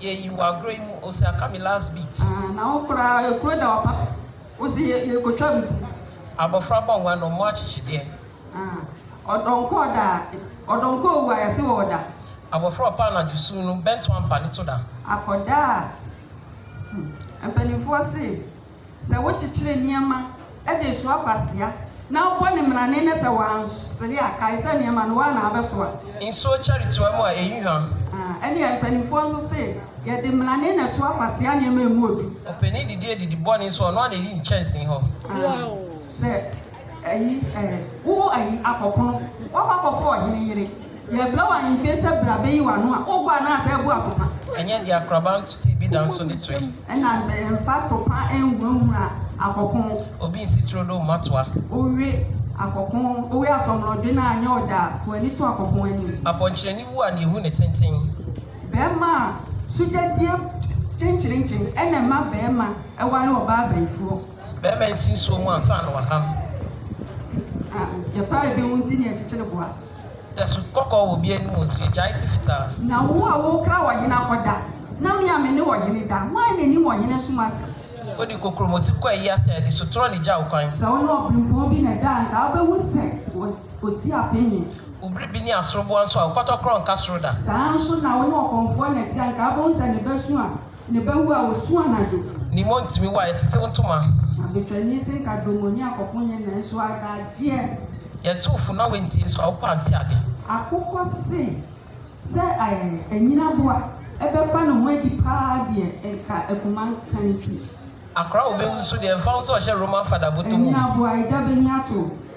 Yɛyi wo agorɔ yi mu o sɛ aka me last beat. Aah na wo koraa ekuro da wo pa wo se yɛkɔtwa me ti. Abɔfra bɔ nwa na ɔmmɔ akyekyedeɛ. Aah ɔdɔ nkɔ ɔda a ɔdɔ nkɔ owu a yɛse wɔ ɔda. Abɔfra ɔpa anadwo sum no bɛnto ampa ne to da. Akɔda a hmm mpanimfoɔ se. Sɛ wokyekyere nneɛma de soa kwasea na wobɔ no mmrane na sɛ wansere a, kae sɛ nneɛma no, wo ara na wobɛsoa. Nsuo kyɛre toa mu a, ɛyi hwa. Ɛnneɛ mpanimfoɔ nso se, Yɛde mmrane na ɛsoa kwasea nneɛma a emu yɛ duru. Ɔpanin didie didi bɔne nso, ɔno ara na ɛdi nkyɛnsee hɔ. Sɛ. Ayi eh, wo ayi akɔ pono, woakɔ akɔfa ɔhene yere. Yɛafira wo ahemfie sɛ bra bɛyi w'ano a, worebɔ anaa sɛ ɛbo atopa? Ɛnyɛ deɛ akoraba nto ti bi da nso ne tire. Ɛna bɛyɛ mfa atopa nhurahura akɔ pono. Obi nsi turo do mma toa. Wowe akɔ pono, wowe asɔmorɔdwe no a nyɛ ɔda a, fa w'ani to akɔ pono anim. Apɔnkyerɛni wu a na ehu ne tenten. Bɛrima a sogyadie kyenkyerenkyen na ɛma bɛrima ware ɔbaa abayifoɔ. Bɛɛma nsi nsuo mu ansa na w'anam. A, yɛpaa ebi ho nti na yɛkyekyere boa. Tɛso kɔkɔɔ wɔ obi anim o, nso yɛgyae ti fitaa. Na wo a worekra ɔhene akɔda, na me a me ne ɔhene da, hwan na nim ɔhene som ase? Wode kokuromoti kɔ ayi ase a, di so torɔ na gya wo kwan. Sɛ wo ne ɔberempɔn bi na ɛda a, anka wobɛhu sɛ ɔsi apem he. Wo bere bi ne asoroboa nso a, wo kɔtɔkorɔ nka soro da. Saa ara nso na wo ne ɔkɔmfoɔ na ɛte a, anka wobɛhu sɛ ne bɛ su a. Ne ba wu a osu anadwo. Ne mu ntumi wu a yɛtetew ntoma. Abetwani se nka dom onyi akɔko nyɛ nanso adagyeɛ. Yɛtow funu na wantie so a wopɛ a nte ade. Akokɔ se sɛ anyin aboa bɛfa ne ho adi paa deɛ nka akuma nka ne ti. Akora a obewu nso deɛ ɛmfa ho sɛ ɔhyɛ Roman fada bɔtɔ mu. Anyin aboa agya bɛnya to.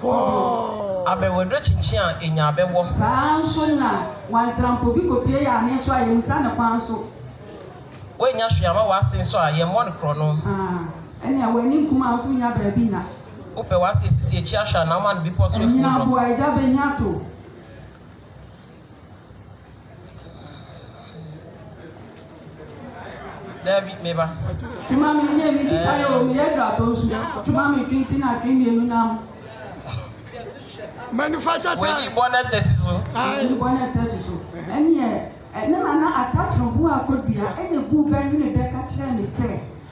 Pɔɔɔ! Abɛ w'aderekyenkye a enya abɛ wɔ. Saa ara nso na w'ansampɔbi kɔpie yɛ ane nso a yɛnsa no kwan nso. W'annya hwee ama w'ase nso a yɛmmɔ no korɔno. Aah, ɛnea w'ani nkum a nso nnya baabi nna. Wopɛ w'ase asisi akyi ahwɛ a na woma no bepɔ so afuo mmrɔn. Ɛnyaa boa agya bɛhia to. Dabi, me ba. Tuma mi nye mi di ayo mi ye dra to nsu. Tuma mi twi ti na twi mienu nam. Manufacture time. Wedi bɔ ne tesi so. Wedi bɔ ne tesi so. Ɛni ɛ, ɛna nana atakyerɛ bu akodua ɛna bu bɛ nwene bɛ ka kyerɛ mi sɛ.